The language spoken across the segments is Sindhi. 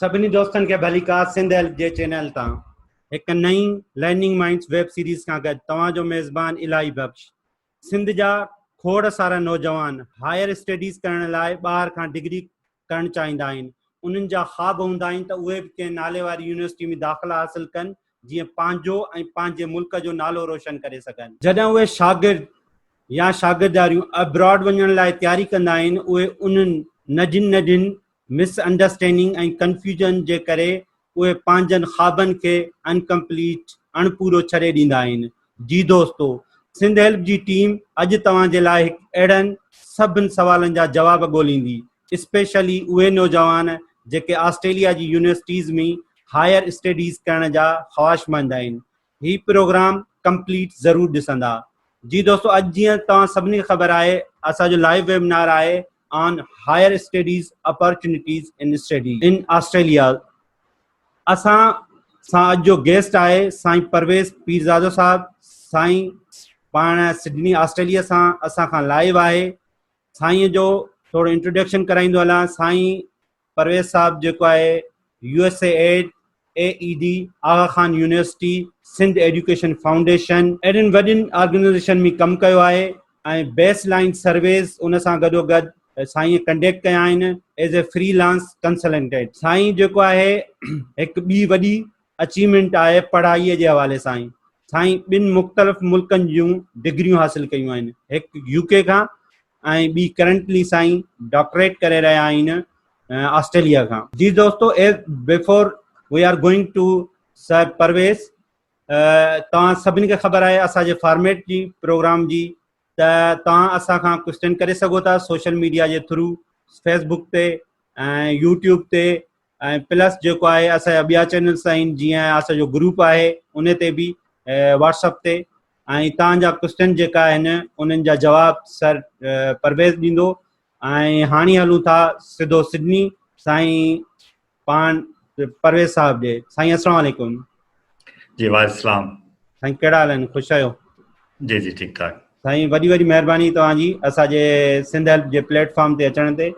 سڀني دوستن کي ڀليڪار سنڌ هيلپ جي چينل تان هڪ نئين لرننگ مائنڊز ويب سيريز کان گڏ توهان جو ميزبان الاهي بخش سنڌ جا کوڙ سارا نوجوان هائر اسٽيڊيز ڪرڻ لاء ٻاهر کان ڊگري ڪرڻ چاهيندا آهن انهن جا خواب هوندا آهن ته اهي به ڪنهن نالي واري يونيورسٽي ۾ داخلا حاصل ڪن جيئن پنهنجو ۽ پنهنجي ملڪ جو نالو روشن ڪري سگهن. جڏهن اهي شاگرد يا شاگردياريون ابراڊ وڃڻ لاء تياري ڪندا آهن اهي انهن ننڍين ننڍين مس انڊرسٽينڊنگ ۽ ڪنفيوزن جي ڪري اهي پنهنجن خوابن کي انڪمپليٽ، اڻپورو، ڇڏي ڏيندا آهن جي دوستو، سنڌ هيلپ جي ٽيم اڄ توهان جي لاء هڪ اهڙن سڀن سوالن جا جواب ڳوليندي، اسپيشلي اهي نوجوان جيڪي آسٽريليا جي يونيورسٽيز ۾ هائير اسٽيڊيز ڪرڻ جا خواهشمند آهن، هي پروگرام ڪمپليٽ ضرور ڏسندا. جي دوستو، اڄ جيئن توهان سڀني کي خبر آهي اسان جو لائيو ويبنار آهي on higher studies opportunities in study in Australia اسان سان اڄ جو گيسٽ آهي سائين پرويز پيرزادو صاحب سائين پاڻ سڊني آسٽريليا سان اسان کان لائيو آهي سائين جو ٿورو انٽروڊڪشن ڪرائيندو هلان سائين پرويز صاحب جيڪو آهي U S A aid A A D Aga Khan university Sindh education foundation اهڙين وڏين آرگنائزيشن ۾ ڪم ڪيو آهي ۽ بيس لائين سرويز ان سان گڏو گڏ سائين ڪنڊيڪٽ ڪيا آهن as a freelance consultant سائين جيڪو آهي هڪ ٻي وڏي اچيومينٽ آهي پڙهائي جي حوالي سان سائين ٻن مختلف ملڪن جون ڊگريون حاصل ڪيون آهن هڪ يو ڪي کان ۽ ٻي ڪرنٽلي سائين ڊاڪٽريٽ ڪري رهيا آهن آسٽريليا کان جي دوستو as before we are going to sir Parvez توهان سڀني کي خبر آهي اسان جي فارميٽ جي پروگرام جي ته توهان اسان کان ڪوشچن ڪري سگهو ٿا سوشل ميڊيا جي ٿرو فيس بڪ تي ۽ يوٽيوب تي ۽ پلس جيڪو آهي اسان جا ٻيا چينلس آهن جيئن اسان جو گروپ آهي ان تي به واٽس اپ تي ۽ توهان جا ڪوشچن جيڪا آهن انهن جا جواب سر پرويز ڏيندو ۽ هاڻي هلون ٿا سڌو سڊني سائين پاڻ پرويز صاحب جي سائين السلام عليڪم جي وعليڪم السلام سائين ڪهڙا حال آهن خوش آهيو جي جي ٺيڪ ٺاڪ سائين وڏي وڏي مهرباني توهان جي اسان جي سنڌ هيلپ جي پليٽ فارم تي اچڻ تي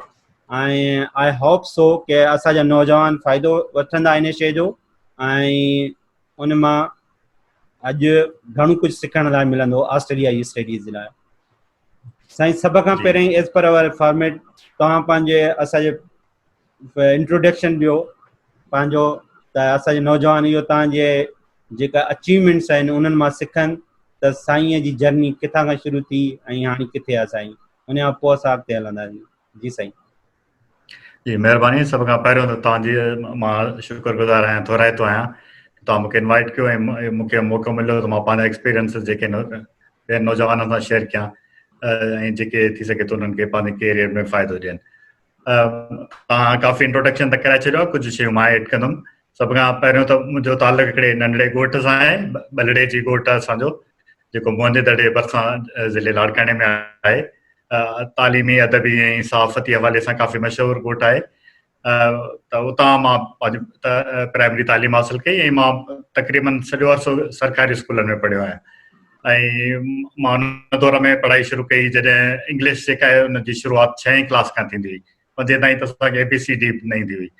۽ آء هوپ سو ڪي اسان جا نوجوان فائدو وٺندا ان شي جو ۽ ان مان اڄ گهڻو ڪجهه سکڻ لاء ملندو آسٽريليا جي اسٽيڊيز جي لاء سائين سڀ کان پهرين ایز پر اوور فارميٽ توهان پنهنجي اسان جي انٽروڊڪشن ڏيو پنهنجو ته اسان جي نوجوان اهو تان جي جيڪا اچيومينٽس آهن انهن مان سکن ته سائين جي جرني ڪٿان کان شروع ٿي ۽ هاڻي ڪٿي آ سائين ان کان پوء اسان اڳتي هلنداسين جي سائين جي مهرباني سڀ کان پهريون ته تان جي مان شڪر گذار آهيان ٿورائتو آهيان تان مونکي انوائٽ ڪيو ۽ مونکي موقعو مليو ته مان پنهنجا ايڪسپيرينس جيڪي نوجوانن سان شيئر ڪيان ۽ جيڪي ٿي سگهي ته انهن کي پنهنجي ڪيريئر ۾ فائدو ڏين توهان ڪافي انٽروڊڪشن ته ڪرائي ڇڏيو ڪجهه شيون مان ايڊ ڪندم سڀ کان پهريون ته منهنجو تعلق هڪڙي ننڍڙي ڳوٺ سان آهي بلڙي جي ڳوٺ آهي اسان جو جيڪو موهندي دڙي جي ڀرسان ضلعي لاڙڪاڻي ۾ آهي تعليمي ادبي ۽ صحافتي حوالي سان ڪافي مشهور ڳوٺ آهي ته اتان مان پنهنجي پرائمري تعليم حاصل ڪئي ۽ مان تقريبن سڄو عرصو سرڪاري اسڪولن ۾ پڙهيو آهيان ۽ مان ان دور ۾ پڙهائي شروع ڪئي جڏهن انگلش جيڪا آهي ان جي شروعات ڇهين ڪلاس کان ٿيندي هئي پنجين تائين ته اسان کي اي بي سي ڊي به نه ايندي هئي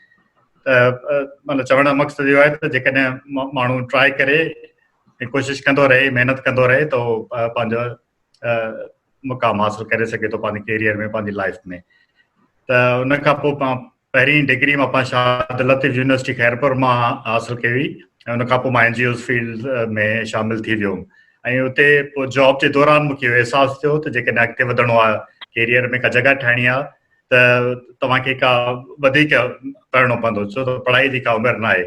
ته مطلب چوڻ جو مقصد اهو آهي ته جيڪڏهن ماڻهو ٽرائي ڪري ۽ ڪوشش ڪندو رهي محنت ڪندو رهي ته هو پنهنجو مقام حاصل ڪري سگهي ٿو پنهنجي ڪيريئر ۾ پنهنجي لائف ۾ ته ان کان پوء پهرين ڊگري مان پاڻ شاهه عبداللطيف يونيورسٽي خيرپور مان حاصل ڪئي هئي ۽ ان کان پوء مان اين جي اوز فيلڊ ۾ شامل ٿي ويو هوم ۽ اتي پوء جاب جي دوران مون کي اهو احساس ٿيو ته جيڪڏهن اڳتي وڌڻو آهي ڪيريئر ۾ ڪا جڳهه ٺاهڻي آهي ته توهان کي ڪا وڌيڪ پڙهڻو پوندو ڇو ته پڙهائي جي ڪا عمر ناهي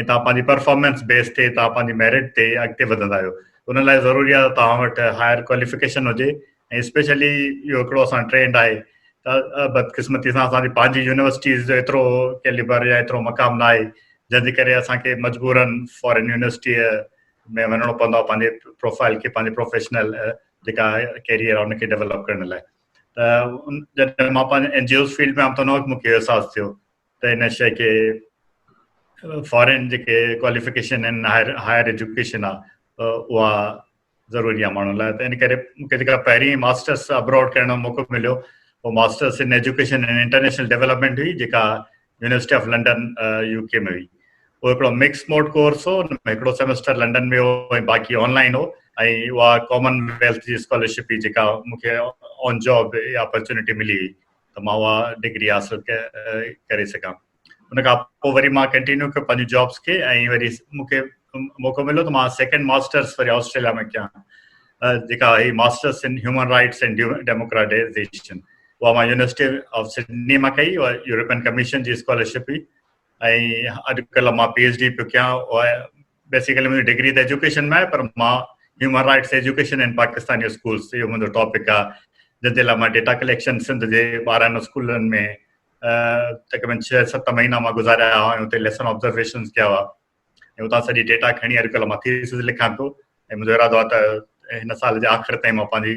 ۽ توهان پنهنجي پرفارمنس بيس تي توهان پنهنجي ميرٽ تي اڳتي وڌندا آهيو ان لاء ضروري آهي ته توهان وٽ هائر ڪواليفڪيشن هجي ۽ اسپيشلي اهو هڪڙو اسان ٽرينڊ آهي ته بدقسمتي سان اسان جي پنهنجي يونيورسٽيز جو ايترو ڪيليبر يا ايترو مقام نه آهي جنهن جي ڪري اسان کي مجبورن فارن يونيورسٽي ۾ وڃڻو پوندو آهي پنهنجي پروفائل کي پنهنجي پروفيشنل جيڪا ڪيريئر آهي ان کي ڊيولپ ڪرڻ لاء ته جڏهن مان پنهنجي اين جي اوز فيلڊ ۾ آيم ته ان وقت مون کي احساس ٿيو ته ان شيء کي فارين جيڪي ڪواليفڪيشن آهن هائر هائر ايجوڪيشن آ اها ضروري آ ماڻهن لاء ته ان ڪري مون کي جيڪا پهرين ماسترس ابراڊ ڪرڻ جو موقعو مليو هو masters in education in international development هئي جيڪا university of London U K ۾ هئي هو هڪڙو مڪس موڊ ڪورس هو ان ۾ هڪڙو سيمسٽر لنڊن ۾ هو ۽ باقي آن لائن هو ۽ اها ڪامن ويلٿ جي اسڪالرشپ هئي جيڪا مون کي آن جاب اپرچونيٽي ملي هئي ته مان اها ڊگري حاصل ڪري سگهان ان کان پوء وري مان ڪنٽينيو ڪيو پنهنجي جابس کي ۽ وري مونکي موقعو مليو ته مان سيڪنڊ ماسٽرس وري آسٽريليا ۾ ڪيان جيڪا هي masters in human rights and democratization اها مان يونيورسٽي آف سڊني مان ڪئي اها يورپين ڪميشن جي اسڪالرشپ هئي ۽ اڄڪلهه مان پي ايچ ڊي پيو ڪيان بيسيڪلي منهنجي ڊگري ته ايجوڪيشن ۾ آهي پر مان human rights education in Pakistan جو اسڪولس اهو منهنجو ٽاپڪ آهي جنهن جي لاء مان ڊيٽا ڪليڪشن سنڌ جي ٻارهن اسڪولن ۾ تقريبن ڇهه ست مهينا مان گذاريا هئا ۽ اتي ليسن آبزرويشنس ڪيا هئا ۽ اتان سڄي ڊيٽا کڻي اڄڪلهه مان ٿيسز لکان ٿو ۽ منهنجو ارادو آهي ته هن سال جي آخر تائين مان پنهنجي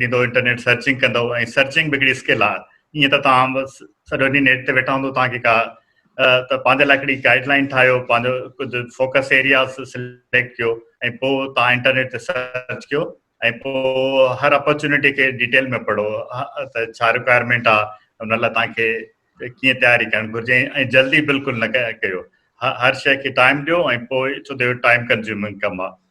ڏيندو انٽرنيٽ سرچنگ ڪندو ۽ سرچنگ به هڪڙي اسڪل آهي ائين ته توهان سڄو ڏينهن نيٽ تي ويٺا هوندو توهان کي ڪا ته پنهنجي لاء هڪڙي گائيڊ لائن ٺاهيو پنهنجو ڪجهه فوڪس ايريا سليڪٽ ڪيو ۽ پوء توهان انٽرنيٽ تي سرچ ڪيو ۽ پوء هر اپرچونيٽي کي ڊيٽيل ۾ پڙهو ته ڇا رڪوائرمينٽ آهي ان لاء توهان کي ڪيئن تياري ڪرڻ گهرجي ۽ جلدي بلڪل نه ڪيو هر شيء کي ٽائيم ڏيو ۽ پوء ڇو ته اهو ٽائيم ڪنزيومنگ ڪم آهي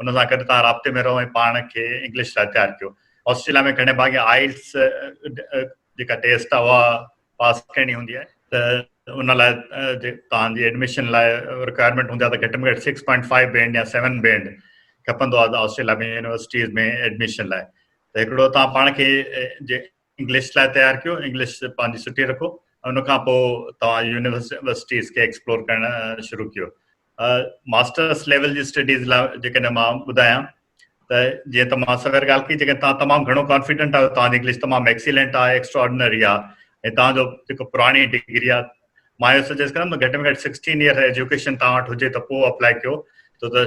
ان سان گڏ توهان رابطي ۾ رهو ۽ پاڻ کي انگلش لاء تيار ڪيو آسٽريليا ۾ گهڻي ڀاڱي آئلس جيڪا ٽيسٽ آهي اها پاس ڪرڻي هوندي آهي ته ان لاء توهان جي ايڊمشن لاء رڪوائرمينٽ هوندي آهي ته گهٽ ۾ گهٽ سڪس پوائنٽ فائيو بينڊ يا سيون بينڊ کپندو آهي آسٽريليا ۾ يونيورسٽيز ۾ ايڊمشن لاء ته هڪڙو توهان پاڻ کي انگلش لاء تيار ڪيو انگلش پنهنجي سٺي رکو ان کان پوء توهان يونيورسٽيز کي ايڪسپلور ڪرڻ شروع ڪيو ماسترس ليول جي اسٽڊيز لاء جيڪڏهن مان ٻڌايان ته جيئن ته مان سوير ڳالهه ڪئي جيڪڏهن تان تمام گهڻو ڪانفيڊنٽ آهيو تان انگلش تمام ايڪسيلنٽ آهي ايڪسٽراڊنري آهي ۽ تان جو جيڪو پراڻي ڊگري آهي مان اهو سجيسٽ ڪندم گهٽ ۾ گهٽ سڪسٽين ايئر ايجوڪيشن تان وٽ هجي ته پوء اپلائي ڪيو ڇو ته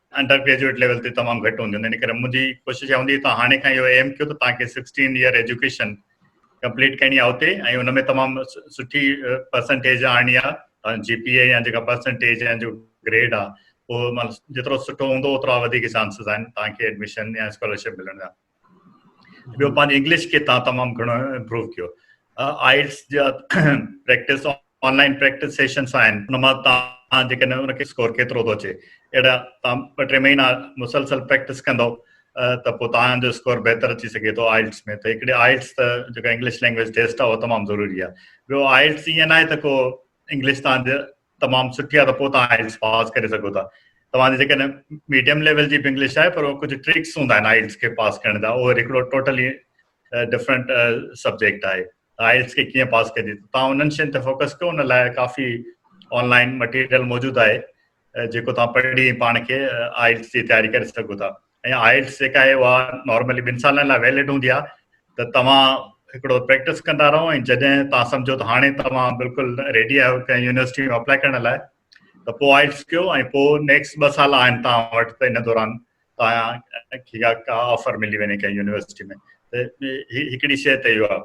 انڊر گريجوئيٽ ليول تي تمام گهٽ هونديون ان ڪري منهنجي ڪوشش اها هوندي ته هاڻي کان اهو ايم ڪيو ته توهان کي 16 ايئر ايجوڪيشن ڪمپليٽ ڪرڻي آهي اتي ۽ ان ۾ تمام سٺي پرسنٽيج آڻڻي آهي جي پي اي يا جيڪا پرسنٽيج يا جو گريڊ آهي اهو مطلب جيترو سٺو هوندو اوترا وڌيڪ چانسز آهن توهان کي ايڊمشن يا اسڪالرشپ ملڻ جا ٻيو پنهنجي انگلش کي تان تمام گهڻو امپروو ڪيو آئلس جا پريڪٽس آنلائن پريڪٽس سيشنس آهن ان مان تان جيڪڏهن ان کي اسڪور ڪيترو ٿو اچي اهڙا تان ٻه ٽي مهينا مسلسل پريڪٽس ڪندو ته پوء تان جو اسڪور بهتر اچي سگهي ٿو آئلس ۾ ته هڪڙي آئلس ته جيڪا انگلش لينگويج ٽيسٽ آهي اهو تمام ضروري آهي ٻيو آئلس ائين ناهي ته ڪو انگلش تان تمام سٺي آهي ته پوء توهان آئلٽس پاس ڪري سگهو ٿا توهان جي جيڪڏهن ميڊيم ليول جي به انگلش آهي پر ڪجهه ٽرڪس هوندا آهن آئلٽس کي پاس ڪرڻ جا اهو هڪڙو ٽوٽلي ڊفرنٽ سبجيڪٽ آهي آئلٽس کي ڪيئن پاس ڪجي توهان انهن شين تي فوڪس ڪيو ان لاء ڪافي آنلائن مٽيريل موجود آهي جيڪو توهان پڙهي پاڻ کي آئلٽس جي تياري ڪري سگهو ٿا ۽ آئلٽس جيڪا آهي اها نارملي ٻن سالن لاء ويلڊ هوندي آهي ته توهان هڪڙو پريڪٽس ڪندا رهو ۽ جڏهن توهان سمجهو ته هاڻي توهان بلڪل ريڊي آهيو ڪنهن يونيورسٽي ۾ اپلائي ڪرڻ لاء ته پوء آئلٽس ڪيو ۽ پوء نيڪسٽ ٻه سال آهن توهان وٽ ته ان دوران توهان کي ڪا آفر ملي وڃي ڪنهن يونيورسٽي ۾ ته هڪڙي شيء ته اهو آهي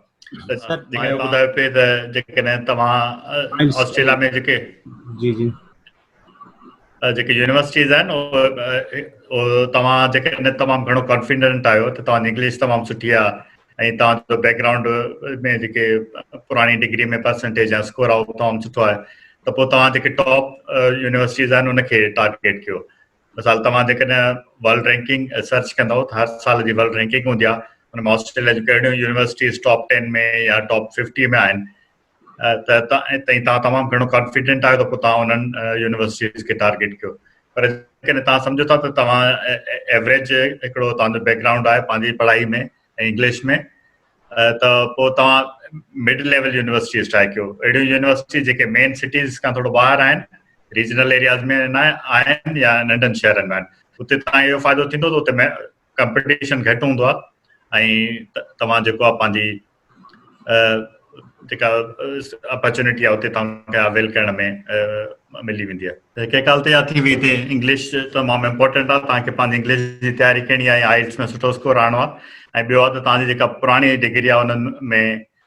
ته جيڪڏهن ٻڌايو پئي ته جيڪڏهن توهان آسٽريليا ۾ جيڪي جي جي جيڪي يونيورسٽيز آهن توهان جيڪي تمام گهڻو ڪانفيڊنٽ آهيو ته توهان جي انگلش تمام سٺي آهي ۽ توهان جو بيڪ گرائونڊ ۾ جيڪي پراڻي ڊگري ۾ پرسنٽيج يا اسڪور آهي اهو تمام سٺو آهي ته پوء توهان جيڪي ٽاپ يونيورسٽيز آهن ان کي ٽارگيٽ ڪيو مثال توهان جيڪڏهن ورلڊ رينڪنگ سرچ ڪندو ته هر سال جي ورلڊ رينڪنگ هوندي آهي ان ۾ آسٽريليا جون ڪهڙيون يونيورسٽيز ٽاپ ٽين ۾ يا ٽاپ ففٽي ۾ آهن ته تائين تان تمام گهڻو ڪانفيڊنٽ آهيو ته پوء تان انهن يونيورسٽيز کي ٽارگيٽ ڪيو پر جيڪڏهن تان سمجهو ٿا ته توهان ايوریج هڪڙو تان جو بيڪ گرائونڊ آهي پنهنجي پڙهائي ۾ انگلش ۾ ته پوء توهان مڊ ليول يونيورسٽيز ٽرائي ڪيو اهڙيون يونيورسٽيز جيڪي مين سٽيز کان ٿورو ٻاهر آهن ريجنل ايرياز ۾ آهن يا ننڍن شهرن ۾ آهن اتي تان اهو فائدو ٿيندو ته اتي ڪمپٽيشن گهٽ هوندو آهي ۽ توهان جيڪو آهي پنهنجي جيڪا اپرچونيٽي آهي اتي توهان کي اويل ڪرڻ ۾ ملي ويندي آهي ڪنهن ڪال تيار ٿي ويندي انگلش تمام امپورٽنٽ آهي توهان کي پنهنجي انگلش جي تياري ڪرڻي آهي آئلس ۾ سٺو اسڪور آڻو آهي ۽ ٻيو آهي ته توهان جي جيڪا پراڻي ڊگري آهي انهن ۾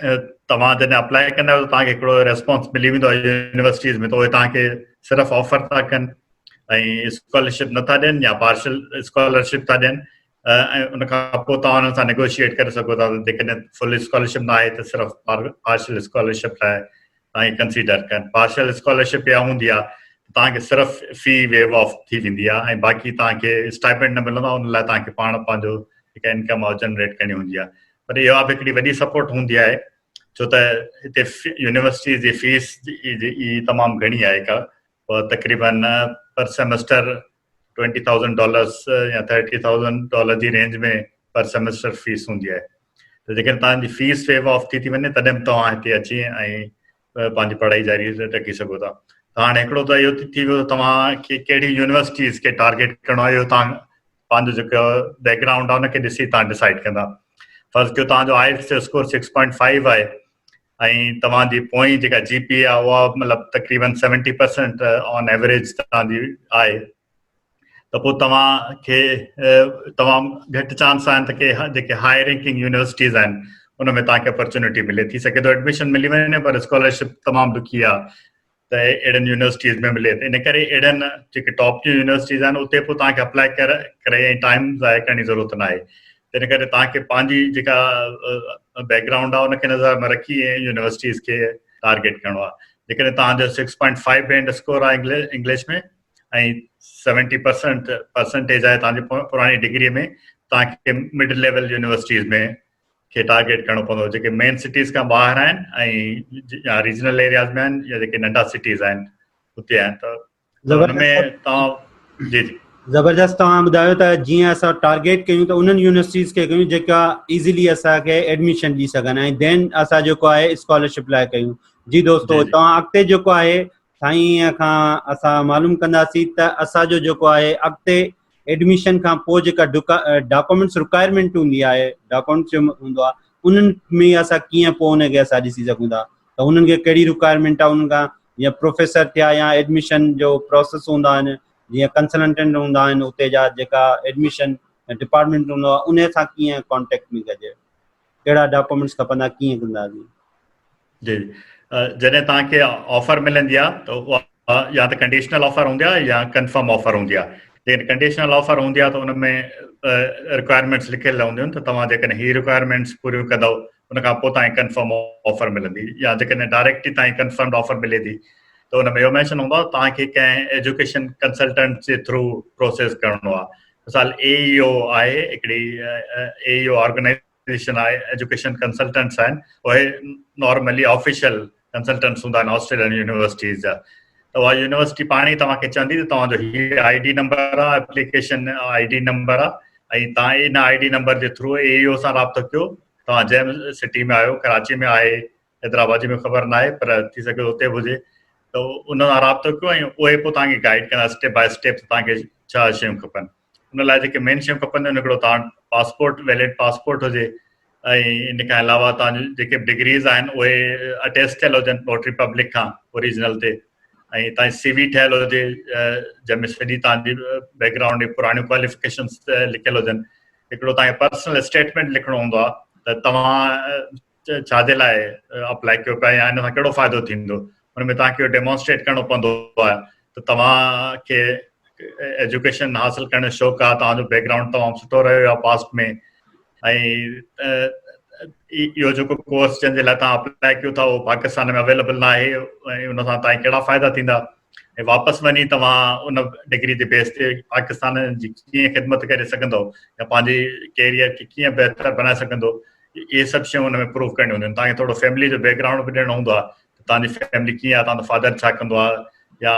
توهان جڏهن اپلائي ڪندا آهيو ته توهان کي هڪڙو ريسپانس ملي ويندو آهي يونيورسٽيز ۾ ته اهي توهان کي صرف آفر ٿا ڪن ۽ اسڪالرشپ نٿا ڏين يا پارشل اسڪالرشپ ٿا ڏين ۽ ان کان پوء توهان انهن سان نيگوشيئيٽ ڪري سگهو ٿا ته جيڪڏهن فل اسڪالرشپ نه آهي ته صرف پارشل اسڪالرشپ لاء تائين ڪنسيڊر ڪن پارشل اسڪالرشپ اها هوندي آهي توهان کي صرف في ويو آف ٿي ويندي آهي ۽ باقي توهان کي اسٽائپنڊ نه ملندو ان لاء توهان کي پاڻ پنهنجو هڪ انڪم آف جنريٽ ڪرڻي هوندي آهي پر اها به هڪڙي وڏي سپورٽ هوندي آهي ڇو ته هتي يونيورسٽي جي فيس تمام گهڻي آهي تقريبن per semester twenty thousand dollars يا ٿرٽي ٿائوزنڊ ڊالر جي رينج ۾ پر سيمسٽر فيس هوندي آهي ته جيڪڏهن توهان جي فيس ويو آف ٿي ٿي وڃي تڏهن به توهان هتي اچي ۽ پنهنجي پڙهائي جاري رکي سگهو ٿا ته هاڻي هڪڙو ته اهو ٿي ويو توهان کي کهڙي يونيورسٽيز کي ٽارگيٽ ڪرڻو آهي اهو توهان پنهنجو جيڪو بيڪ گرائونڊ آهي ان کي ڏسي توهان ڊسائڊ ڪندا فرض ڪيو توهان جو آئلس جو اسڪور سڪس پوائنٽ فائيو آهي ۽ توهان جي پوئين جيڪا جي پي آهي اها مطلب تقريبن سيونٽي پرسنٽ آن ايوریج توهان جي آهي ته پوء توهان کي تمام گهٽ چانس آهن ته ڪي جيڪي هاء رينڪنگ يونيورسٽيز آهن ان ۾ توهان کي اپرچونيٽي ملي ٿي سگهي ٿو ايڊميشن ملي وڃي پر اسڪالرشپ تمام ڏکي آهي ته اهڙين يونيورسٽيز ۾ ملي ته ان ڪري اهڙين جيڪي ٽاپ جون يونيورسٽيز آهن اتي پوء تان کي اپلائي ڪر ڪري ۽ ٽائيم ضايع ڪرڻ جي ضرورت نه آهي تنهن ڪري تان کي پنهنجي جيڪا بيڪ گرائونڊ آهي ان کي نظر ۾ رکي ۽ يونيورسٽيز کي ٽارگيٽ ڪرڻو آهي جيڪڏهن تان جو six point five band score آهي انگلش ۾ ۽ سيونٽي پرسنٽ پرسنٽيج آهي تان جي پراڻي ڊگري ۾ تان کي مڊ ليول يونيورسٽيز ۾ کي ٽارگيٽ ڪرڻو پوندو جيڪي مين سٽيز کان ٻاهر آهن ۽ يا ريجنل ايرياز ۾ آهن يا جيڪي ننڍا سٽيز آهن اتي آهن ته ان ۾ توهان جي جي زبردست توهان ٻڌايو ته جيئن اسان ٽارگيٽ ڪيون ته انهن يونيورسٽيز کي ڪيون جيڪا ايزيلي اسان کي ايڊميشن ڏي سگهن ۽ دين اسان جيڪو آهي اسڪالرشپ لاء ڪيون جي دوستو توهان اڳتي جيڪو آهي سائين کان اسان معلوم ڪنداسين ته اسان جو جيڪو آهي اڳتي ايڊميشن کان پوء جيڪا ڊاڪومينٽس رڪوائرمينٽ هوندي آهي ڊاڪومينٽس جو هوندو آهي انهن ۾ اسان ڪيئن پوء ان کي اسان ڏسي سگهون ٿا ته انهن کي ڪهڙي رڪوائرمينٽ آهي انهن کان جيئن پروفيسر ٿيا يا ايڊميشن جو پروسيس هوندا آهن جيئن ڪنسلنٽنٽ هوندا آهن اتي جا جيڪا ايڊميشن ڊپارٽمينٽ هوندو آهي ان سان ڪيئن ڪانٽيڪٽ ۾ ڪجي ڪهڙا ڊاڪومينٽس کپندا ڪيئن ڪنداسين. جي جڏهن توهان کي آفر ملندي آ ته اها يا ته ڪنڊيشنل آفر هوندي آ يا ڪنفرم آفر هوندي آ جيڪڏهن ڪنڊيشنل آفر هوندي آ ته ان ۾ رڪوائرمينٽس لکيل هونديون آهن ته توهان جيڪڏهن هي رڪوائرمينٽس پوريون ڪندو ان کان پوء توهان کي ڪنفرم آفر ملندي يا جيڪڏهن ڊائريڪٽ ئي توهان کي ڪنفرمڊ آفر ملي ٿي ته ان ۾ اهو مينشن هوندو آ ته توهان کي ڪنهن ايجوڪيشن ڪنسلٽنٽ جي ٿرو پروسيس ڪرڻو آ مثال AEO آهي هڪڙي AEO آرگنائيزيشن آهي ايجوڪيشن ڪنسلٽنٽس آهن اهي نارملي آفيشل ڪنسلٽنٽس هوندا آهن آسٽريلين يونيورسٽيز جا ته اها يونيورسٽي پاڻ ئي توهان کي چوندي ته توهان جو هي آئي ڊي نمبر آهي اپليڪيشن آئي ڊي نمبر آهي ۽ تان ان آئي ڊي نمبر جي ٿرو اي او سان رابطو ڪيو توهان جنهن سٽي ۾ آهيو ڪراچي ۾ آهي حيدرآباد واري ۾ خبر ناهي پر ٿي سگهي اتي به هجي ته ان سان رابطو ڪيو ۽ اهي پوء توهان کي گائيڊ ڪندا اسٽيپ باء اسٽيپ توهان کي ڇا شيون کپن ان لاء جيڪي مين شيون کپن ان هڪڙو توهان پاسپورٽ ويلڊ پاسپورٽ هجي ۽ ان کان علاوه توهان جيڪي به ڊگريز آهن اهي اٽيچ ٿيل هجن نوٽري پبلڪ کان اوریجنل تي ۽ توهان سی وي ٺهيل هجي جنهن ۾ سڄي توهان جي بيڪ گرائونڊ جي پراڻيون ڪواليفڪيشنس لکيل هجن هڪڙو توهان کي پرسنل اسٽيٽمنٽ لکڻو هوندو آهي ته توهان ڇا جي لاء اپلائي ڪيو پيا يا ان سان ڪهڙو فائدو ٿيندو ان ۾ توهان کي ڊيمونسٽريٽ ڪرڻو پوندو آهي ته توهان کي ايجوڪيشن حاصل ڪرڻ جو شوق آهي توهان جو بيڪ گرائونڊ تمام سٺو رهيو آهي پاسٽ ۾ اهو جيڪو ڪورس جنهن جي لاء توهان اپلائي ڪيو ٿا اهو پاڪستان ۾ اويليبل نه آهي ۽ ان سان توهان ڪهڙا فائدا ٿيندا ۽ واپس وڃي توهان ان ڊگري جي بيس تي پاڪستان جي ڪيئن خدمت ڪري سگهندو يا پنهنجي ڪيريئر کي ڪيئن بهتر بنائي سگهندو اهي سڀ شيون ان ۾ پروف ڪرڻيون هونديون آهن تان کي ٿورو فيملي جو بيڪ گرائونڊ به ڏيڻو هوندو آهي تان جي فيملي ڪيئن آهي تان جو فادر ڇا ڪندو آهي يا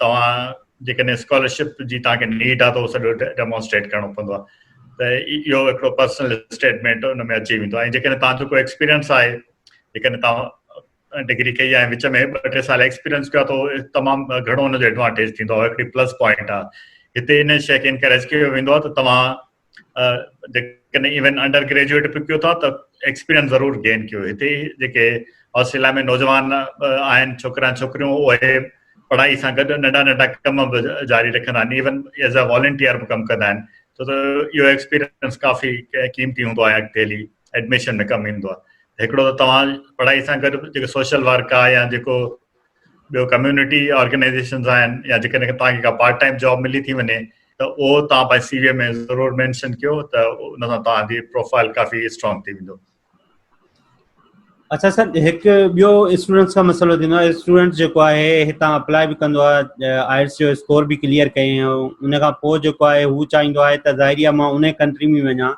توهان جيڪڏهن اسڪالرشپ جي تان کي نيڊ آهي ته اهو سڄو ڊيمونسٽريٽ ڪرڻو پوندو آهي ته اهو هڪڙو پرسنل اسٽيٽمينٽ ان ۾ اچي ويندو آهي جيڪڏهن تان جو ڪو ايڪسپيرينس آهي جيڪڏهن تان ڊگري ڪئي آهي وچ ۾ ٻه ٽي سال ايڪسپيرينس ڪيو آهي ته تمام گهڻو ان جو ايڊوانٽيج ٿيندو آهي هڪڙي پلس پوائنٽ آهي هتي ان شيء کي انڪريج ڪيو ويندو آهي ته توهان جيڪڏهن ايون انڊر گريجوئيٽ به ڪيو ٿا ته ايڪسپيرينس ضرور گين ڪيو هتي جيڪي آسٽريليا ۾ نوجوان آهن ڇوڪرا ۽ ڇوڪريون اهي پڙهائي سان گڏ ننڍا ننڍا ڪم به جاري رکندا آهن ايون ايز اي والنٽيئر به ڪم ڪندا آهن ڇو ته اهو ايڪسپيرينس ڪافي قيمتي هوندو آهي اڳتي هلي ايڊميشن ۾ ڪم ايندو آهي هڪڙو ته توهان پڙهائي سان گڏ جيڪو سوشل ورڪ آهي يا جيڪو ٻيو ڪميونٽي آرگنائيزيشنز آهن يا جيڪڏهن توهان کي ڪا پارٽ ٽائيم جاب ملي ٿي وڃي ته اهو توهان پنهنجي سي وي ۾ ضرور مينشن ڪيو ته ان سان توهان جي پروفائل ڪافي اسٽرانگ ٿي ويندو اچھا سر هڪ ٻيو اسٽوڊنٽس کان مسئلو ٿيندو آهي اسٽوڊنٽ جيڪو آهي هتان اپلائي به ڪندو آهي آئلس جو اسڪور به ڪليئر ڪيائين ان کان پوء جيڪو آهي هو چاهيندو آهي ته ظاهري آهي مان ان ڪنٽري ۾ وڃان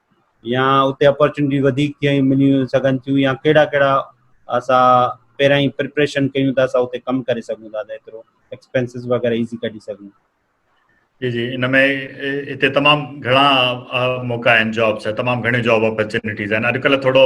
يا اتي اپورچونٽي وڌيڪ ٿيون ملي سگهن ٿيون يا ڪهڙا ڪهڙا اسان پهريان ئي پريپريشن ڪيون ته اسان اتي ڪم ڪري سگهون ٿا ته ايترو ايڪسپينسز وغيره ايزي ڪڍي سگهون جي جي ان ۾ اتي تمام گهڻا موقعا آهن جابس تمام گهڻي جاب اپورچونٽيز آهن اڄڪلهه ٿورو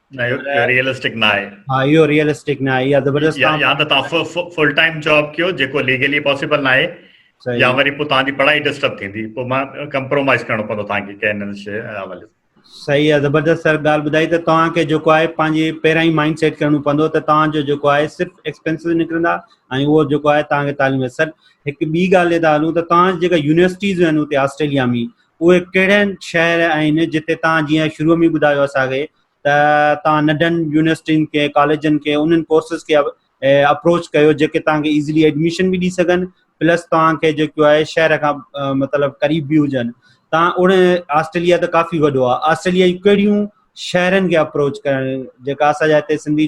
نه اهو ريئلسٽڪ نه آهي ها اهو ريئلسٽڪ نه آهي يا زبردست يا يا ته تاسو فل ٽائيم جاب ڪيو جيڪو ليگلي پاسيبل نه آهي يا وري پو تان جي پڙهائي ڊسٽرب ٿيندي پو ما ڪمپرومائز ڪرڻو پوندو تان کي ڪين ان شي حوالي صحيح آهي زبردست سر ڳالهه ٻڌائي ته توهان کي جيڪو آهي پنهنجي پهريان ئي مائنڊ سيٽ ڪرڻو پوندو ته توهان جو جيڪو آهي صرف ايڪسپينسز نڪرندا ۽ اهو جيڪو آهي توهان کي تعليم سر هڪ ٻي ڳالهه تي ته هلون ته توهان جيڪا يونيورسٽيز آهن اتي آسٽريليا ۾ اهي ڪهڙا شهر آهن جتي توهان جيئن شروع ۾ ٻڌايو اسان کي ته توهان ننڍن يونيورسٽين کي ڪاليجن کي انهن ڪورسز کي اپروچ ڪيو جيڪي توهان کي ايزلي ايڊميشن به ڏئي سگهن پلس توهان کي جيڪو آهي شهر کان مطلب قريب به هجن توهان اڻ آسٽريليا ته ڪافي وڏو آهي آسٽريليا جون ڪهڙيون شهرن کي اپروچ ڪرڻ جيڪا اسان جا هتي سنڌي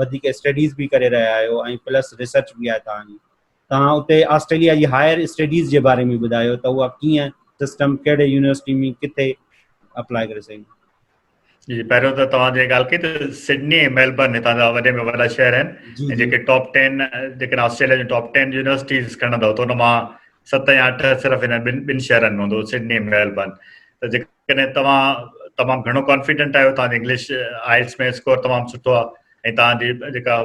وڌيڪ اسٽڊيز به ڪري رهيا آهيو ۽ پلس ريسرچ به آهي توهان جي توهان اتي آسٽريليا جي هائر اسٽڊيز جي باري ۾ ٻڌايو ته اها ڪيئن سسٽم ڪهڙي يونيورسٽي ۾ ڪٿي اپلاء ڪري سگهون جي پهريون ته توهان جي ڳالهه ڪئي ته سڊني ۽ ميلبرن هتان جا وڏي ۾ وڏا شهر آهن ۽ جيڪي ٽاپ 10 جيڪي آسٽريليا جون ٽاپ 10 يونيورسٽيز کڻندو ته ان مان ست يا اٺ صرف هن ٻن ٻن شهرن ۾ هوندو سڊني ۽ ميلبرن ته جيڪي ڪڏهن توهان تمام گهڻو ڪانفيڊنٽ آهيو توهان جي انگلش آئلس ۾ اسڪور تمام سٺو آهي ۽ توهان جي جيڪا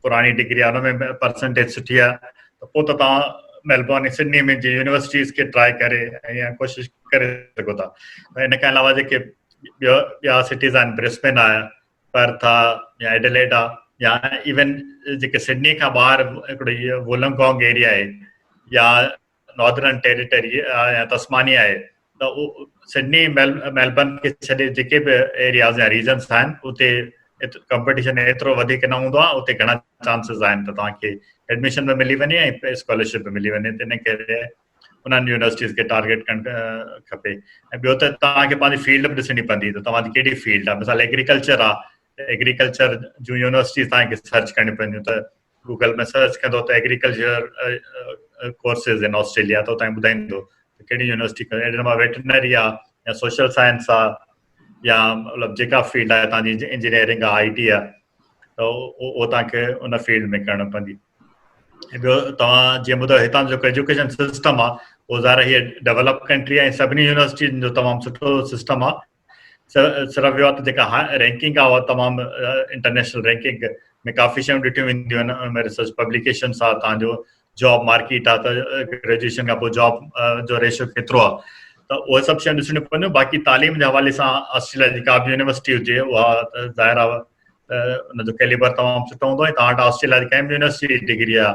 پراڻي ڊگري آهي ان ۾ پرسنٽيج سٺي آهي ته پوء ته توهان ميلبورن ۽ سڊني ۾ جي يونيورسٽيز کي ٽراء ڪري ۽ ڪوشش ڪري سگهو ٿا ان کان علاوه جيڪي ٻيو ٻيا سٽيز آهن برسبن آهي پرٿ آهي يا ايڊليڊ آهي يا ايون جيڪي سڊني کان ٻاهر هڪڙو وولنگ گانگ ايريا آهي يا ناردرن ٽيريٽري يا تسمانيا آهي ته سڊني ميلبرن کي ڇڏي جيڪي به ايرياز يا ريجنس آهن اتي ڪمپٽيشن ايترو وڌيڪ نه هوندو آهي اتي گهڻا چانسز آهن ته توهان کي ايڊميشن به ملي وڃي ۽ اسڪالرشپ به ملي وڃي تنهن ڪري انهن يونيورسٽيز کي ٽارگيٽ ڪرڻ کپي ۽ ٻيو ته توهان کي پنهنجي فيلڊ به ڏسڻي پوندي ته توهان جي کي فيلڊ آهي مثال ايگريڪلچر آهي ايگريڪلچر جون يونيورسٽيز توهان کي سرچ ڪرڻي پونديون ته گوگل ۾ سرچ ڪندو ته ايگريڪلچر ڪورسز ان آسٽريليا ته اتان ٻڌائيندو ڪهڙي يونيورسٽي ڪري اهڙي نمبر ويٽرنري آ يا سوشل سائنس آ يا مطلب جيڪا فيلڊ آ تان جي انجنيئرنگ آ آئي ٽي آ ته او تان کي ان فيلڊ ۾ ڪرڻ پندي ۽ ٻيو توهان جي مدد هتان جو ايجوڪيشن سسٽم آ او ظاهر هي ڊيولپ ڪنٽري آ سڀني يونيورسٽي جو تمام سٺو سسٽم آ صرف اهو ته جيڪا رينڪنگ آهي اها تمام انٽرنيشنل رينڪنگ ۾ ڪافي شيون ڏٺيون وينديون آهن ان ۾ ريسرچ پبليڪيشن سان تان جو جاب مارڪيٽ آهي ته گريجويشن کان پوء جاب جو ريشو ڪيترو آهي ته اهي سڀ شيون ڏسڻيون پونديون باقي تعليم جي حوالي سان آسٽريليا جي ڪابه يونيورسٽي هجي اها ظاهر آهي ان جو ڪيليبر تمام سٺو هوندو آهي تان وٽ آسٽريليا جي ڪنهن به يونيورسٽي جي ڊگري آهي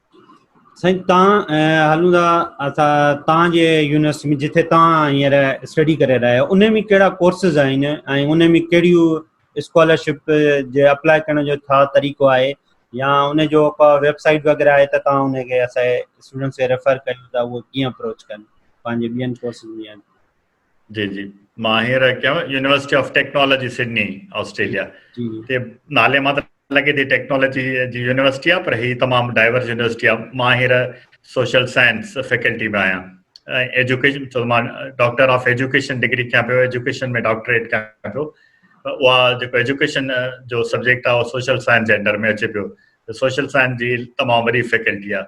سائين تان هلون ٿا اسان تان جي يونيورسٽي ۾ جتي تان هينئر اسٽڊي ڪري رهيا آهيو ان ۾ ڪهڙا ڪورسز آهن ۽ ان ۾ ڪهڙيون اسڪالرشپ جي اپلاء ڪرڻ جو ڇا طريقو آهي يا ان جو ڪا ويب سائيٽ وغيرہ آهي ته تان ان کي اسان اسٽوڊنٽس کي ريفر ڪريو ته هو ڪيئن اپروچ ڪن پنهنجي ٻين ڪورسز ۾ جي جي مان هينئر ڪيم university of technology Sydney Australia تي نالي مان ته لڳي ٿي ٽيڪنالاجي جي يونيورسٽي آهي پر هي تمام ڊائيورس يونيورسٽي آهي مان هينئر سوشل سائنس فيڪلٽي ۾ آهيان ۽ ايجوڪيشن چو مان ڊاڪٽر آف ايجوڪيشن ڊگري ڪيان پيو ايجوڪيشن ۾ ڊاڪٽريٽ ڪيان پيو اها جيڪو ايجوڪيشن جو سبجيڪٽ آهي اهو سوشل سائنس جي انڊر ۾ اچي پيو سوشل سائنس جي تمام وڏي فيڪلٽي آهي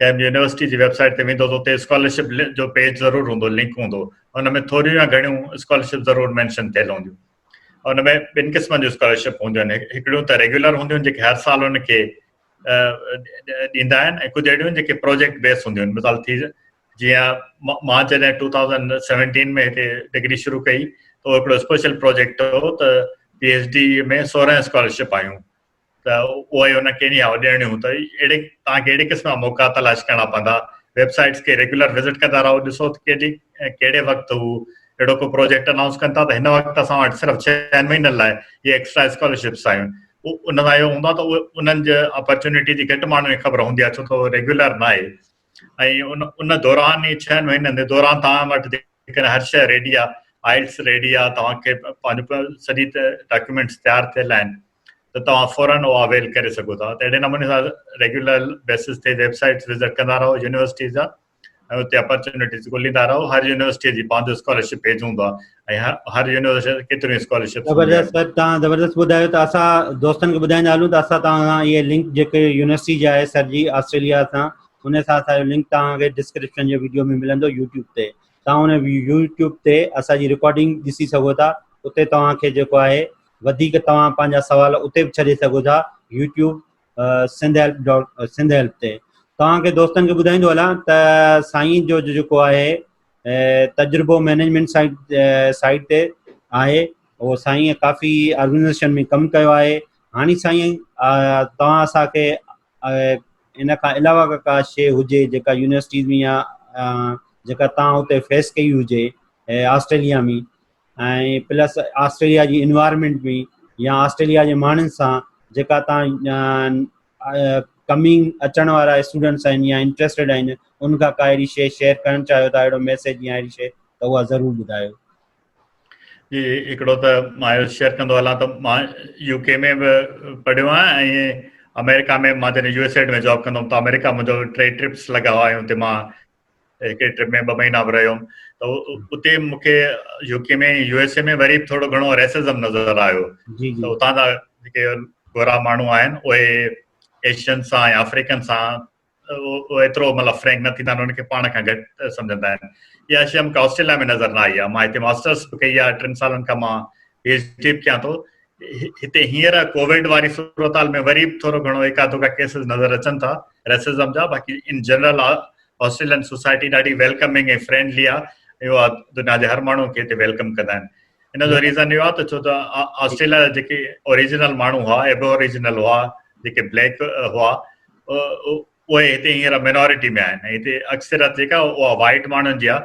ڪنهن به يونيورسٽي جي ويب سائيٽ تي ويندو ته اتي اسڪالرشپ جو پيج ضرور هوندو لنڪ هوندو ان ۾ ٿوريون يا گهڻيون اسڪالرشپ ضرور مينشن ٿيل هونديون ان ۾ ٻن قسمن جون اسڪالرشپ هونديون آهن هڪڙيون ته ريگيولر هونديون آهن جيڪي هر سال ان کي ڏيندا آهن ۽ ڪجهه اهڙيون جيڪي پروجيڪٽ بيس هونديون آهن مثال ٿي جيئن مان جڏهن ٽو ٿاوزنڊ سيونٽين ۾ هتي ڊگري شروع ڪئي ته هڪڙو اسپيشل پروجيڪٽ هو ته پي ايچ ڊي ۾ سورهن اسڪالرشپ آيون ته اهو ئي ان کي نياء ڏيڻي هو ته اهڙي توهان کي اهڙي قسم جا موقعا تلاش ڪرڻا پوندا ويب سائيٽس کي ريگيولر وزٽ ڪندا رهو ڏسو ته ڪيڏي ڪهڙي وقت هو اهڙو ڪو پروجيڪٽ انائونس ڪن ٿا ته هن وقت اسان وٽ صرف ڇهن مهينن لاء اهي ايڪسٽرا اسڪالرشپس آيون ان سان اهو هوندو آهي ته انهن جي اپرچونيٽي جي گهٽ ماڻهن کي خبر هوندي آهي ڇو ته ريگيولر ناهي ۽ ان دوران ئي ڇهن مهينن جي دوران توهان وٽ جيڪڏهن هر شيء ريڊي آهي آئلٽس ريڊي آهي توهان کي پنهنجو سڄي ڊاڪيومينٽس تيار ٿيل آهن ته توهان فورن اهو اويل ڪري سگهو ٿا ته اهڙي نموني سان ريگيولر بيسز تي ويب سائيٽس وزٽ ڪندا رهو يونيورسٽيز جا ۽ اتي اپرچونيٽيز ڳوليندا رهو هر يونيورسٽي جي پنهنجو اسڪالرشپ پيج هوندو آهي هر يونيورسٽي ڪيتريون اسڪالرشپ زبردست سر تان زبردست ٻڌايو ته اسان دوستن کي ٻڌائيندا هلون ته اسان تان سان هي لنڪ جيڪي يونيورسٽي جي آهي سر جي آسٽريليا سان ان سان اسان جو لنڪ تان کي ڊسڪرپشن جي ويڊيو ۾ ملندو يوٽيوب تي تان ان يوٽيوب تي اسان جي ريڪارڊنگ ڏسي سگهو ٿا اتي تان کي جيڪو آهي وڌيڪ تان پنهنجا سوال اتي به ڇڏي سگهو ٿا YouTube Sindh help dot Sindh help تي تان کي دوستن کي ٻڌائيندو هلان ته سائين جو جيڪو آهي تجربو مينيجمينٽ سائيڊ سائيڊ تي آهي او سائين ڪافي آرگنائزيشن ۾ ڪم ڪيو آهي هاڻي سائين توهان اسانکي ان کان علاوه اگر ڪا شيء هجي جيڪا يونيورسٽيز ۾ يا جيڪا توهان هتي فيس ڪئي هجي آسٽريليا ۾ ۽ پلس آسٽريليا جي انوائرمينٽ بي يا آسٽريليا جي ماڻهن سان جيڪا توهان ڪمنگ اچڻ وارا اسٽوڊنٽس آهن يا انٽرسٽيڊ آهن ان کان ڪا اهڙي شيء شيئر ڪرڻ چاهيو ٿا اهڙو ميسيج يا اهڙي شيء ته اها ضرور ٻڌايو. جي هڪڙو ته مان اهو شيئر ڪندو هلان ته مان يو ڪي ۾ به پڙهيو آهيان ۽ آمريڪا ۾ مان جڏهن يو ايس ايڊ ۾ جاب ڪندو هوم ته آمريڪا منهنجو ٽي ٽرپس لڳا هئا ۽ اتي مان هڪڙي ٽرپ ۾ ٻه مهينا به رهيم ته اتي مون کي U K ۾ U S A ۾ وري ٿورو گهڻو ريسزم نظر آيو ته اتان جا جيڪي گورا ماڻهو آهن اهي ايشين سان يا آفريڪن سان اهو ايترو مطلب فرينڪ نه ٿيندا آهن انهن کي پاڻ کان گهٽ سمجهندا آهن اها شي مون کي آسٽريليا ۾ نظر نه آئي آهي مان هتي ماسٽرس به ڪئي آهي ٽن سالن کان مان پي ايچ ڊي به ڪيان ٿو هتي هينئر ڪوويڊ واري صورتحال ۾ وري به ٿورو گهڻو ايڪا دوڪا ڪيسز نظر اچن ٿا ريسزم جا باقي ان جنرل آسٽريلين سوسائٽي ڏاڍي ويلڪمنگ ۽ فرينڊلي آهي اهو دنيا جي هر ماڻهو کي هتي ويلڪم ڪندا آهن ان جو ريزن اهو آهي ته ڇو ته آسٽريليا جا جيڪي اوريجنل ماڻهو هئا ايبو اوريجنل هئا جيڪي بليڪ هئا اهي هتي هينئر مينورٽي ۾ آهن هتي اڪثريت جيڪا اها وائٽ ماڻهن جي آهي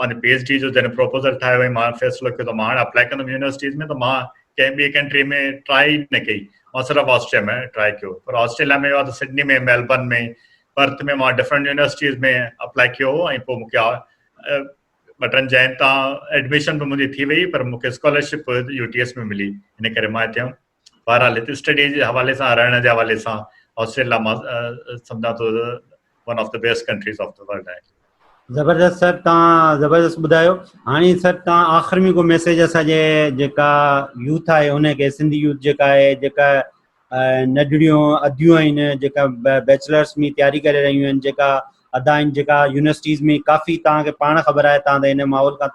پنهنجي پي ايڇ ڊي جو جڏهن پروپوزل ٺاهيو ۽ مان فيصلو ڪيو ته مان هاڻي اپلائي ڪندم يونيورسٽيز ۾ ته مان ڪنهن ٻي ڪنٽري ۾ ٽرائي ئي نه ڪئي مان صرف آسٽريا ۾ ٽرائي ڪيو پر آسٽريليا ۾ اهو ته سڊني ۾ ميلبرن ۾ برت ۾ مان ڊفرنٽ يونيورسٽيز ۾ اپلائي ڪيو هو ۽ پوء مونکي ٻه ٽن جاين تان ايڊميشن به منهنجي ٿي وئي پر مونکي اسڪالرشپ يو ٽي ايس ۾ ملي ان ڪري مان هتي بهرحال هتي اسٽڊي جي حوالي سان رهڻ جي حوالي سان آسٽريليا مان سمجهان ٿو one of the best countries of the world آهي زبردست سر تان زبردست بدايو هاني سر تان آخر ۾ کو ميسج اسا جي جيڪا يوٿ آهي ان کي سنڌي يوٿ جيڪا آهي جيڪا نڊڙيو اديو آهن جيڪا بيچلرز ۾ تياري ڪري رهيون آهن جيڪا ادا آهن جيڪا يونيورسٽيز ۾ ڪافي تان کي پاڻ خبر آهي تان ته ان ماحول کا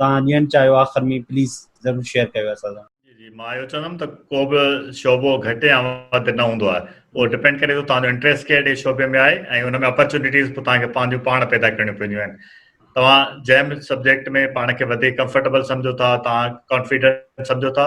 توهان ڏيڻ چاهيو آخر ۾ پليز ضرور شيئر ڪيو اسان سان. جي جي مان اهو چوندم ته ڪو به شعبو گهٽ يا وڌ نه هوندو آهي اهو ڊپينڊ ڪري ٿو توهان جو انٽريسٽ ڪهڙي شعبي ۾ آهي ۽ ان ۾ اپرچونيٽيز به توهان کي پنهنجون پاڻ پيدا ڪرڻيون پونديون آهن توهان جنهن به سبجيڪٽ ۾ پاڻ کي وڌيڪ ڪمفرٽيبل سمجهو ٿا توهان ڪانفيڊنٽ سمجهو ٿا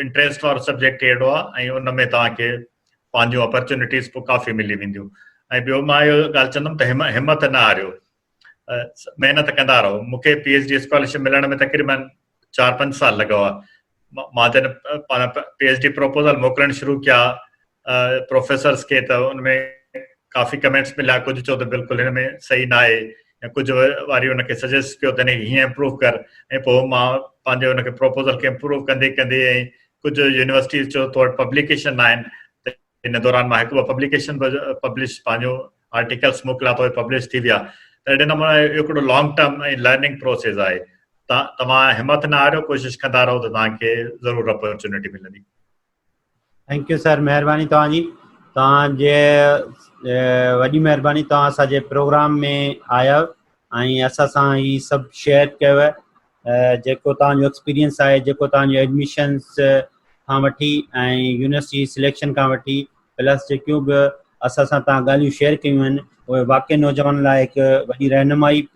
انٽريسٽ وارو سبجيڪٽ ئي اهڙو آهي ۽ ان ۾ توهان کي پنهنجون اپرچونٽيز به ڪافي ملي وينديون ۽ ٻيو مان اهو ڳالهه چوندم ته همت نه هاريو محنت ڪندا رهو مون کي پي ايچ ڊي اسڪالرشپ ملڻ ۾ تقريبن چار پنج سال لڳا هئا مان جڏهن پي ايچ ڊي پروپوزل موڪلڻ شروع ڪيا پروفيسرس کي ته ان ۾ ڪافي ڪمينٽس مليا ڪجهه چيو ته بلڪل هن ۾ صحيح نه آهي يا ڪجهه واري ان کي سجيسٽ ڪيو ته هن کي هيئن امپروو ڪر ۽ پوء مان پنهنجي ان کي پروپوزل کي امپروو ڪندي ڪندي ۽ ڪجهه يونيورسٽيز چيو تو وٽ پبليڪيشن نه آهن ته ان دوران مان هڪ ٻه پبليڪيشن به پبلش پنهنجو آرٽيڪلس موڪليا ته پبلش ٿي ويا ته اهڙي نموني اهو هڪڙو لانگ ٽرم ۽ لرننگ پروسيس آهي توهان همٿ نه هاريو ڪوشش ڪندا رهو ته توهان کي ضرور اپرچونٽي ملندي ٿينڪ يو سر مهرباني توهان جي توهان جي وڏي مهرباني توهان اسان جي پروگرام ۾ آيو ۽ اسان سان هي سڀ شيئر ڪيو جيڪو توهان جو ايڪسپيرينس آهي جيڪو توهان جو ايڊمشنس کان وٺي ۽ يونيورسٽي سليڪشن کان وٺي پلس جيڪيون به اسان سان توهان ڳالهيون شيئر ڪيون آهن اهي واقعي نوجوان لاء هڪ وڏي رهنمائي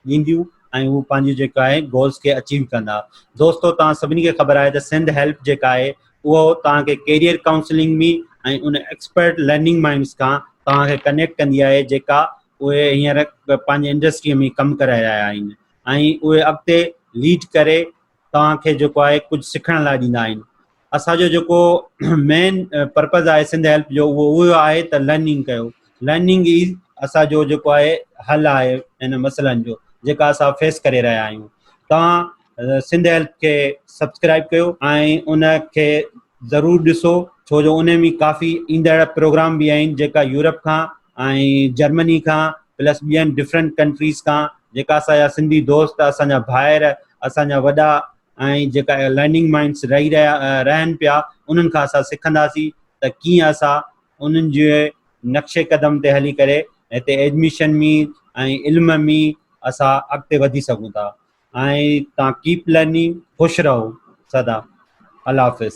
ڏينديون ۽ هو پنهنجي جيڪو آهي گولز کي اچيو ڪندا. دوستو توهان سڀني کي خبر آهي ته سنڌ هيلپ جيڪا آهي اهو توهان کي ڪيريئر ڪائونسلنگ مي ۽ ان ايڪسپرٽ لرننگ مائنڊز کان توهان کي ڪنيڪٽ ڪندي آهي جيڪا اهي هينئر پنهنجي انڊسٽري مي ڪم ڪري رهيا آهن ۽ اهي اڳتي ليڊ ڪري توهان کي جيڪو آهي ڪجهه سکڻ لاء ڏيندا آهن اسان جو جيڪو مين پرپز آهي سنڌ هيلپ جو اهو اهو آهي ته لرننگ ڪيو لرننگ ئي اسان جو جيڪو آهي حل آهي ان مسئلن جو جيڪا اسان فيس ڪري رهيا آهيون توهان سنڌ هيلپ کي سبسڪرائب ڪيو ۽ ان کي ضرور ڏسو ڇو جو انهن ۾ ڪافي ايندڙ پروگرام به آهن جيڪا يورپ کان ۽ جرمني کان پلس ٻين ڊفرنٽ ڪنٽريز کان جيڪا اسان جا سنڌي دوست اسان جا ڀائر اسان جا وڏا ۽ جيڪا لرننگ مائنڊس رهي رهيا رهن پيا انهن کان اسان سکنداسين ته ڪيئن اسان انهن جي نقشي قدم تي هلي ڪري هتي ايڊميشن ۾ ۽ علم ۾ اسان اڳتي وڌي سگهون ٿا ۽ تان ڪيپ لرننگ خوش رهو سدا الله حافظ.